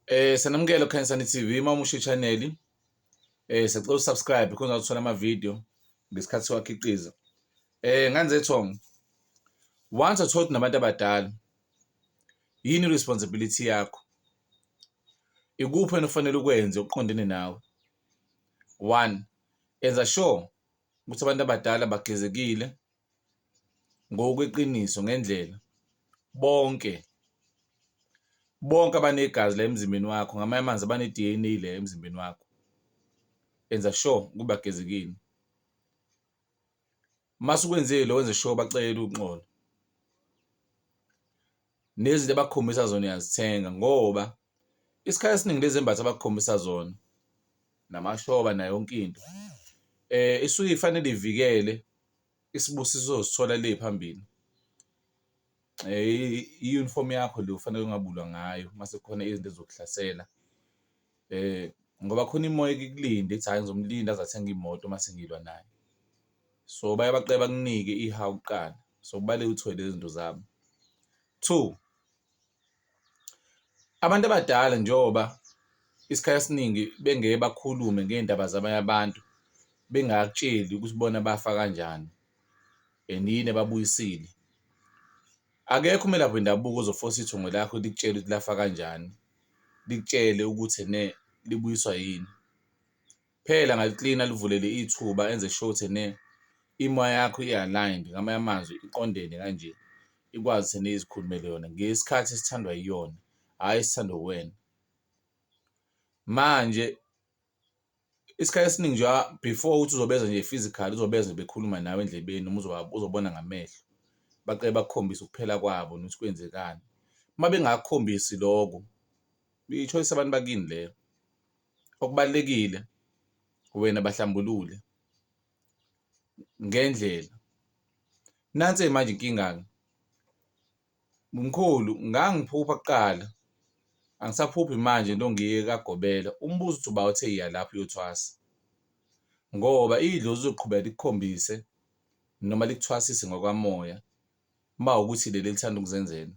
Eh sanamukela Khanyisani TV mamushe channel. Eh sacela usubscribe khona uzothola ama video ngesikhathi siwakhiqiza. Eh nganze thong. Once I told nabantu abadala yini responsibility yakho? Ikuphi enofanele ukwenze uqondene nawe? One, enza sure ukuthi abantu abadala bagezekile ngokweqiniso ngendlela bonke bonke abanegazi la emzimbeni wakho ngamanye amanzi abane-DNA le emzimbeni wakho enza sure ukuba gezekile mase ukwenzile wenze sure bacele uxolo nezinto abakukhombisa zona uyazithenga ngoba isikhathi esiningi lezi embatha abakukhombisa zona namashoba nayo yonke into eh isuke ifanele ivikele isibusiso osithola le phambili eh i-uniform yakho le ufanele ungabulwa ngayo mase kukhona izinto ezokuhlasela. Ngoba khona imimoya eke ikulinde ithi hhayi ngizomlinda aze athenge imoto uma sengilwa naye. So, baye baqale bakunike ihawu kuqala, so kubalulekile ukuthi uthole lezi zinto zabo. Two, abantu abadala njengoba isikhathi esiningi bengeke bakhulume ngey'ndaba zabanye abantu, bengakutsheli ukuthi bona bafa kanjani and yini ebabuyisile. Akekho umelaphi wendabuko ozofosa ithongo lakho likutshele ukuthi lafa kanjani. likutshele ukuthi ene libuyiswa yini. Phela ngaliklina livulele ithuba enze sure ukuthi ene imoya yakho i-aligned, ngamanye amazwi iqondene kanje, ikwazi ukuthi ene izikhulumele yona ngesikhathi esithandwa iyona, hhayi esithandwa uwena. Manje. Isikhathi esiningi nje before ukuthi uzobezwa nje physical uzobezwa nje bekhuluma nawe endlebeni noma uzobona ngamehlo, baqale bakukhombise ukuphela kwabo nokuthi kwenzekani. Uma bengakukhombisi loko i-choice yabantu bakini leyo, okubalulekile wena bahlambulule ngendlela. Nansi-ke manje inkinga-ke. Mkhulu ngangiphupha kuqala, angisaphuphi manje into ngiye kagobela umbuzo uthi uba uthe iya lapho uyothwasa ngoba idlozi lizoqhubeka likukhombise noma likuthwasise ngokamoya uma ukuthi leli elithanda ukuzenzela.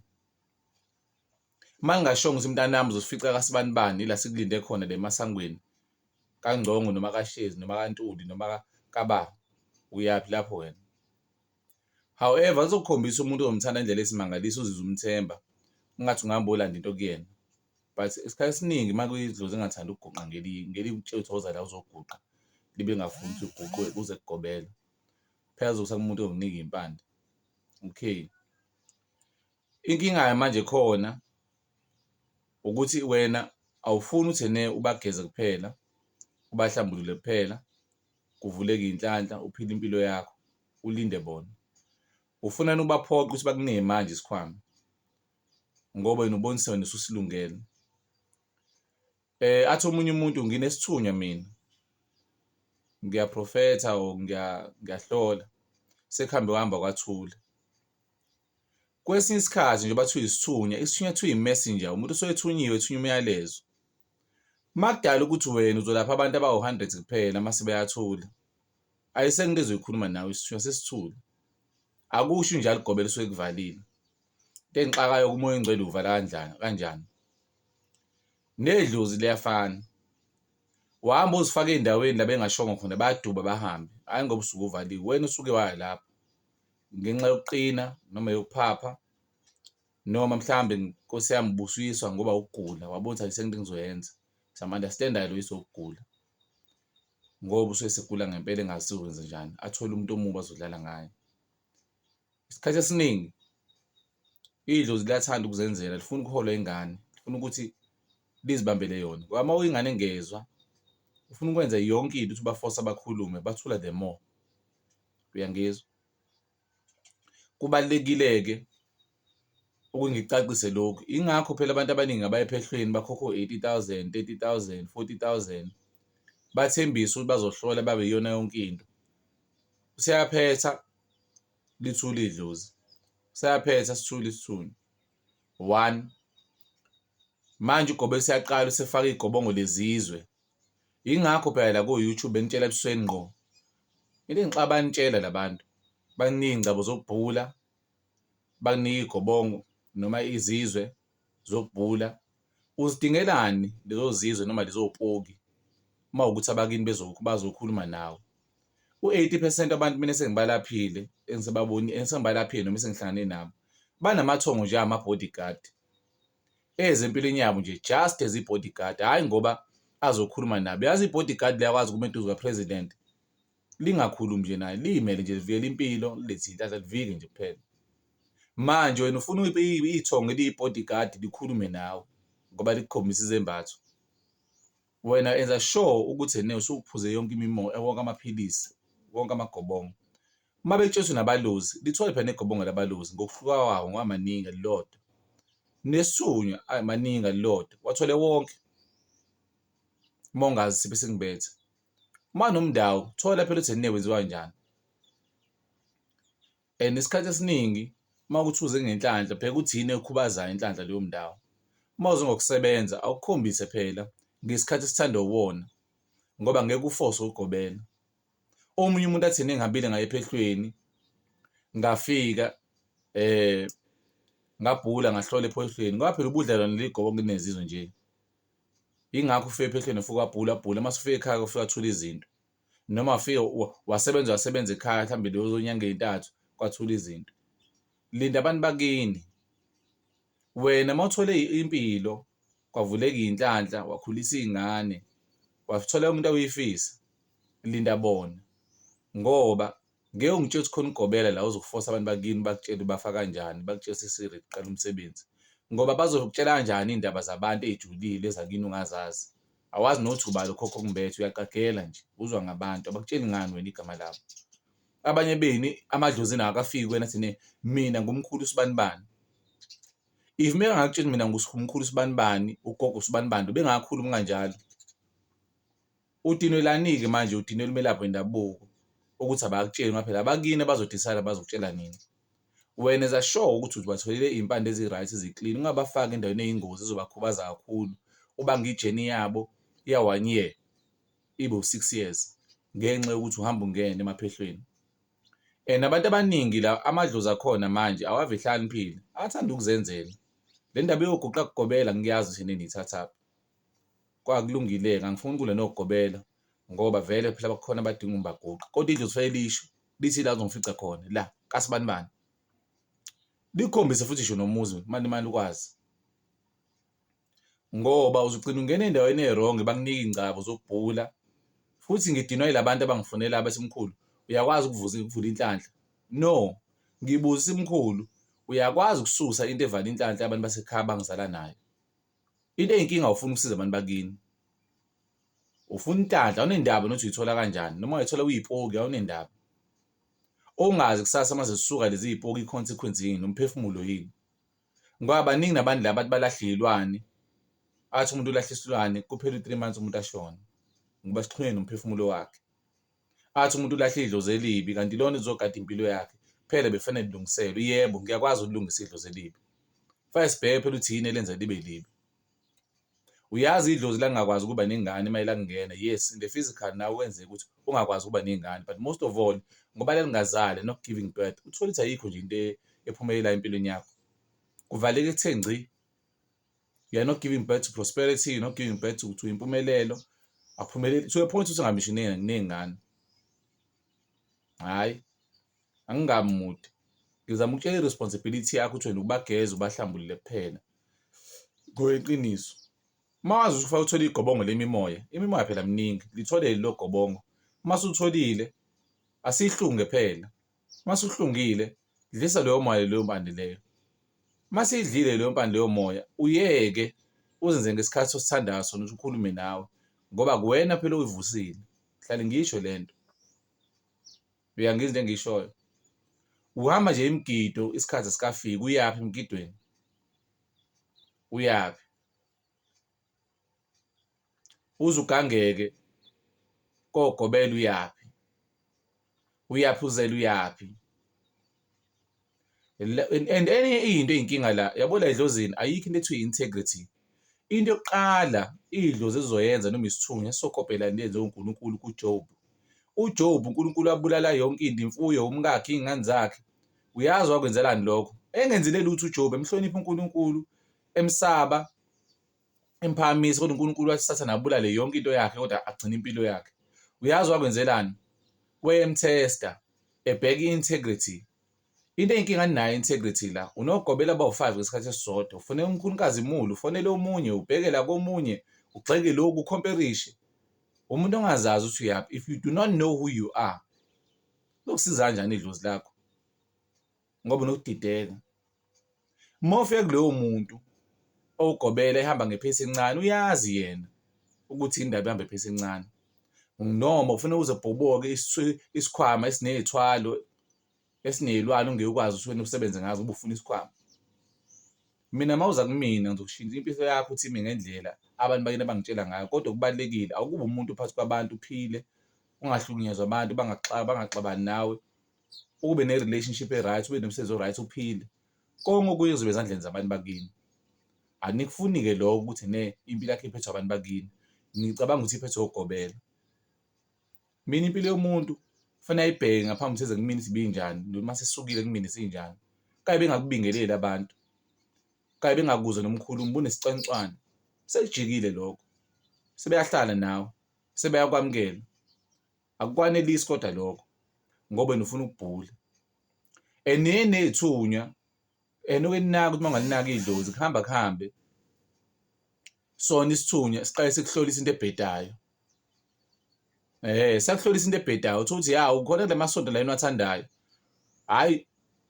Uma ngingashongo ukuthi mntanami uzofica kasibanibani ila sikulinde khona le emasangweni kaNgcongo noma kaShezi noma kaNtuli noma kababa, uyaphi lapho wena? However, uzokukhombisa umuntu ozomthanda indlela esimangalisa uzizwe umthemba ungathi ungahamba uyolanda into kuyena but isikhathi esiningi uma kuyidlozi engathanda ukuguqa ngelinye ngelinye ukutshela ukuthi woza la uzoguqa libe lingafuni ukuthi uguqwe kuze kugobela phela uzokusa kumuntu onginika impande okay inkinga manje khona ukuthi wena awufuni ukuthi ne ubageze kuphela ubahlambulule kuphela kuvuleke inhlanhla uphile impilo yakho ulinde bona ufunani ubaphoqa ukuthi bakunike manje isikhwama ngoba yena ubonisa wena ususilungele eh athi omunye umuntu nginesithunywa mina ngiyaprofetha or ngiyahlola sekuhambe wahamba kwathula kwesinye isikhathi nje bathiwa isithunywa isithunywa kuthiwa i-messenger umuntu osoyethunyiwe ethunya umyalezo makudala ukuthi wena uzolapha abantu abawu-100 kuphela mase beyathula Ayi sengike zoyikhuluma nawe isithunywa sesithule. Akusho unje aligobela usuke ekuvalile. Into engixakayo umoya ongcwele uvala kanjani kanjani. Nedlozi liyafana. Wahamba uzifaka ey'ndaweni la bengashongo khona bayaduba bahambe, hhayi ngoba usuke uvaliwe. Wena usuke waya lapho ngenxa yokuqina noma yokuphapha noma mhlawumbe Nkosi yami ubusuyiswa ngoba ukugula wabona ukuthi ayisekho into engizoyenza. Sama-understand-ayo lo yiswa ukugula. ngoba usuke esegula ngempela engazi ukuthi uzokwenzenjani, athole umuntu omubi azodlala ngaye. Isikhathi esiningi idlozi liyathanda ukuzenzela, alifuni ukuholwa ingane, lifuna ukuthi lizibambele yona ngoba uma ingane engezwa, ufuna ukwenza yonke into ukuthi ubafosa bakhulume, bathula the more. Uyangizwa? Kubalulekile-ke ukuthi ngicacise lokhu, yingakho phela abantu abaningi abaya ephehlweni bakhokha o-eighty thousand, thirty thousand, forty thousand, bathembise ukuthi bazohlola babe iyona yonke into. Useyaphetha lithule idlozi, useyaphetha sithule isithunzi, one. Manje uGobe useyaqala usefaka iy'gobongo lezizwe Yingakho phela la ko-YouTube benitshela ebusweni ngqo. Into engixaka banitshela la bantu, bakunika iy'ngcabo zokubhula, bakunika iy'gobongo noma izizwe zokubhula. Uzidingelani lezo zizwe noma lezo poki uma kuwukuthi abakini bazokhuluma nawe? U-eighty phesenti wabantu mina esengibalaphile esengibalaphile noma esengihlangane nabo, banamathongo nje angama-bodyguard. eze empilweni yabo nje just as i-body guard hhayi ngoba azokhuluma nabo yazi i-body guard liyakwazi ukuma eduze kapresident lingakhulumi nje naye liyimele nje livikela impilo lilethe inhlanhla livike nje kuphela manje wena ufuna ithongo eliyi-body guard likhulume nawe ngoba likukhombisa izembatho wena enza sure ukuthi ene usuphuze yonke imimoya wonke amaphilisi wonke amagobongo Uma betshwetshwe nabaluzi, lithole phela negobongo labaluzi ngokuhluka kwawo ngoba maningi elilodwa. Nesunywa ayi maningi elilodwa, wathole wonke. Uma ungazi siphi singibethe. Uma nomndawo, thola phela ukuthi ne wenziwa njani. And isikhathi esiningi uma kuthi uze ngenhlanhla, bheka ukuthi yini ekhubazayo inhlanhla leyo mndawo. Uma uze ngokusebenza, awukhombise phela ngesikhathi esithandwa uwona ngoba ngeke ufose ukugobela. omunye umuntu athini engihambile ngaye ephehlweni ngafika eh ngabhula ngahlola ephoyisweni ngoba phela ubudlelwane ligobo kunezizwe nje ingakho ufike ephehlweni ufuke wabhula bhula uma sufike ekhaya ufike wathula izinto noma ufike wasebenza wasebenza ekhaya mhlawumbe leyo zonyanga ezintathu kwathula izinto linda abantu bakini Wena uma uthole impilo kwavuleka iy'nhlanhla wakhulisa iy'ngane wathola umuntu awuyifisa linda bona ngoba ngeke ungitshela ukuthi khona ugobela la uzokufosa abantu bakini bakutshele ubafa kanjani bakutshela sisiri kuqala umsebenzi ngoba bazokutshela kanjani iy'ndaba zabantu ey'julile ezakini ungazazi awazi nothi ubali ukhokho kumbethe uyaqagela nje uzwa ngabantu abakutsheli ngani wena igama labo abanye benu amadlozi nawo akafiki kwena thine mina ngumkhulu sibanibani if mengakutshela mina ngumkhulu sibanibani ugogo sibanibani bengakhulumi kanjalo utinwelanike manje utinwela umelaphi wendabuko ukuthi abakutsheli ngoba phela abakini abazodisayida bazokutshela nini wena eza sure ukuthi uzibatholele iy'mpande ezi-right zi-clean ungabafaki endaweni eyingozi ezobakhubaza kakhulu ubanga ijeni yabo ya-one year ibe u-six years ngenxa yokuthi uhamba ungena emaphehlweni. And abantu abaningi la amadlozi akhona manje awave ehlakaniphile, athanda ukuzenzela. Le ndaba eyoguqa kugobela ngiyazi ukuthi nini ithathaphi. Kwakulungile-ke angifuni kule nokugobela ngoba vele phela bakhona abadinga umbaguqa kodwa idlozi fanele lisho lithi la uzongifica khona la kasibani bani. Likhombise futhi ngisho nomuzi mani mani ukwazi. ngoba uzogcina ungena endaweni e-wrong bakunike ingcabo zokubhula futhi ngidinwa yilabantu abangifunela abesimkhulu uyakwazi ukuvuza ukuvula inhlanhla no ngibuza isimkhulu uyakwazi ukususa into evala inhlanhla abantu basekhaya bangizala nayo into eyinkinga ufuna ukusiza abantu bakini ufuna inhlanhla awunendaba nothi uyithola kanjani noma uyithola uyipoki awunendaba ongazi kusasa uma zisuka lezi zipoki i-consequence yini umphefumulo yini ngoba baningi nabantu la bathi balahle iy'lwane athi umuntu ulahle isilwane kuphela u-three months umuntu ashone ngoba sixhunye nomphefumulo wakhe athi umuntu ulahle idlozi elibi kanti lona izogada impilo yakhe phela bekufanele lilungiselwe yebo ngiyakwazi ukulungisa idlozi elibi fanele sibheke phela ukuthi yini elenza libe libi Uyazi idlozi langakwazi ukuba nengane uma elakungena. Yes, in the physical nawe kwenzeka ukuthi ungakwazi ukuba nengane but most of all ngoba lalingazali not giving birth. Uthole ukuthi ayikho nje into e- ephumelela empilweni yakho. Kuvaleke kuthe ngci. You are not giving birth to prosperity, you're not giving birth to, to impumelelo. Akuphumeleli. To a point ukuthi ungamishineki nengane. Hhayi. angingami mude ngizama ukutshela i-responsibility yakho ukuthi wena ubageze ubahlambulule kuphela ngoyeqiniso uma wazi ukuthi ufanele uthole igobongo lemimoya imimoya phela mningi lithole lelo gobongo uma sutholile asihlunge phela uma suhlungile dlisa leyo moya leyo mpande leyo uma siyidlile leyo mpande leyo moya uyeke uzenze ngesikhathi osithandayo sona ukuthi ukhulume nawe ngoba kuwena phela uyivusile hlale ngisho le nto Uyangizwa into engiyishoyo? Uhamba nje imigido isikhathi sikafiki uyaphi emgidweni? Uyaphi? Uze ugangeke kogobela uyaphi? Uyaphi uzela uyaphi? and enye into eyinkinga la yabo la edlozini ayikho into ethiwa integrity into yokuqala idlozi ezoyenza noma isithunywa esokopela into eyenziwe uNkulunkulu kuJob uJob uNkulunkulu abulala yonke into imfuyo umkakhe izingane zakhe uyazi wakwenzelani lokho engenzile lutho uJob emhlonipha uNkulunkulu emsaba emphakamisa kodwa uNkulunkulu wasithatha nabulale yonke into yakhe kodwa agcina impilo yakhe uyazi wakwenzelani wayemthesta ebheka i-integrity Into eyinkinga ninayo integrity la. Unogobela abawu-five ngesikhathi esisodwa. Ufune unkulukazi mulu, ufonele omunye, ubhekela komunye, ugxeke lokhu, ukhomperishe. Umuntu ongazazi ukuthi uyaphi. If you do not know who you are, lokusiza kanjani idlozi lakho? Ngoba unokudideka. Uma ufika kuloyo muntu owugobela ehamba ngephesi encane uyazi yena ukuthi indaba ihamba iphesi encane noma ufuna uze ubhoboke isikhwama esinezithwalo esinezilwane ongeke ukwazi ukuthi wena usebenze ngazo ubufuna isikhwama mina mawuza kumina ngizokushintsha impilo yakho uthi ime ngendlela abantu bakini abangitshela ngayo kodwa kubalekile awukube umuntu phakathi kwabantu uphile ungahlukunyezwa abantu bangaxabani nawe ube ne-relationship e-right, ube nomsebenzi o-right, uphile. Konke okunye kuzoba ezandleni zabantu bakini. Anikufuni-ke lokho ukuthi ne impilo yakho iphethwe abantu bakini. Ngicabanga ukuthi iphethwe ugobela. Mina impilo yomuntu kufanele ayibheke ngaphambi ukuthi eze kumina ukuthi ibinjani, noma sesisukile kumina isinjani. Kanye bengakubingeleli abantu, kanye bengakuzwa nomkhulumi, ubunesicwancwane. Sekujikile lokho. Sebeyahlala nawe, sebeyakwamukela. Akukwanelisi kodwa lokho ngoba wena ufuna ukubhula. And niye ney'thunywa and ukuyinaka ukuthi uma ungalinaki idlozi kuhamba kuhambe sona isithunywa siqale sikuhlolisa into ebhedayo. Eh sakuhlolisa into ebhedayo uthola ukuthi ya ukhona kula masonto la enwathandayo. Hhayi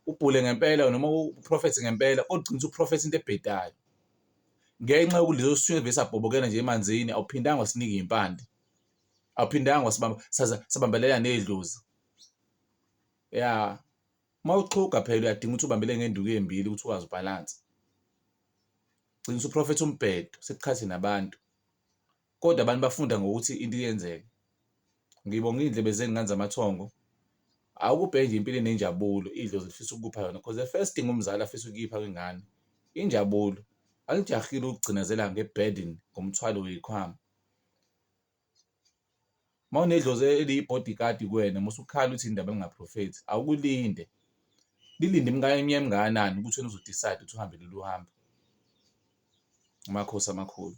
ubhule ngempela noma uprofethi ngempela kodwa ugcina usuprofetha into ebhedayo. Ngenxa yokuthi leso sithunywa vese sabhobokela nje emanzini awuphindanga wasinika iy'mpande. awuphindanga wasibamba saza sabambelela nedlozi ya uma uxhuga phela uyadinga ukuthi ubambele ngenduku embili ukuthi ukwazi ubalance gcina usuprofetha umbhedo sikhathi nabantu kodwa abantu bafunda ngokuthi into iyenzeka ngibonga iy'ndlebe zenu nganza amathongo awukubhe nje impilo enenjabulo idlozi lifisa ukukupha yona because the first thing umzali afisa ukuyipha kwingane injabulo alijahile ukugcinazela ngeburden ngomthwalo weyikhwama uma unedlozi eliyi-bodyguard kuwena uma usukhala uthi indaba lingaprofethi awukulinde lilinde iminyaka emingakanani ukuthi wena uzodicide ukuthi uhambe lolu hambo amakhosi amakhulu